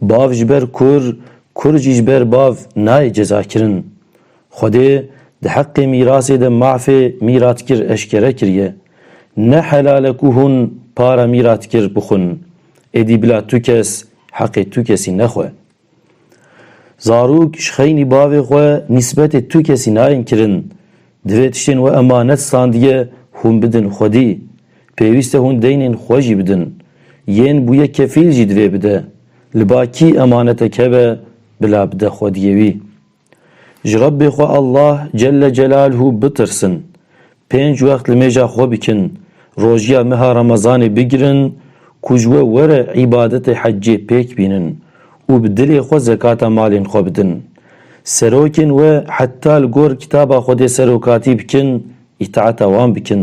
Bav ji ber kur, kur jî ji ber bav nayê cezakirin. Xwedê di heqê mîrasê de mafê mîratkir eşkere kiriye. Ne helal e ku hûn para mîratkir bixwin. Êdî bila tu kes heqê tu kesî nexwe. Zarok ji xeynî bavê xwe nîsbetê tu kesî nayên kirin. Divê tiştên we emanet sandiye hûn bidin xwedî. Pêwîste hûn deynên xwe jî bidin. Yên bûye kefîl jî divê bide. Li ba kî emanetek hebe bila bide xwediyê wî. Ji Rebbê xwe Allah Celle Celalhu bitirsin. Pênc wext li mêja xwe bikin, rojiya meha Remezanê bigirin ku ji we were îbadetê hecê pêk bînin Û bi dilê xwe zekata malên xwe bidin. Serokên we heta li gor kitaba Xwedê serokatî bikin, îtaeta wan bikin.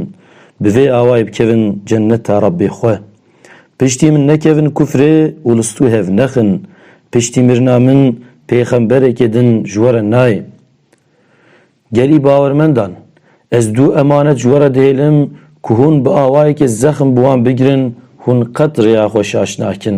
Bi vê awayê bikevin cenneta Rebbê xwe. Piştî min nekevin kufrê û li stû hev nexin. Piştî mirina min pêxemberekê din ji we re nayê. Gelî bawermendan! Ez du emanet ji we re dihêlim ku hûn bi awayekê zexm bi wan bigirin, hûn qet rêya xwe şaş nakin.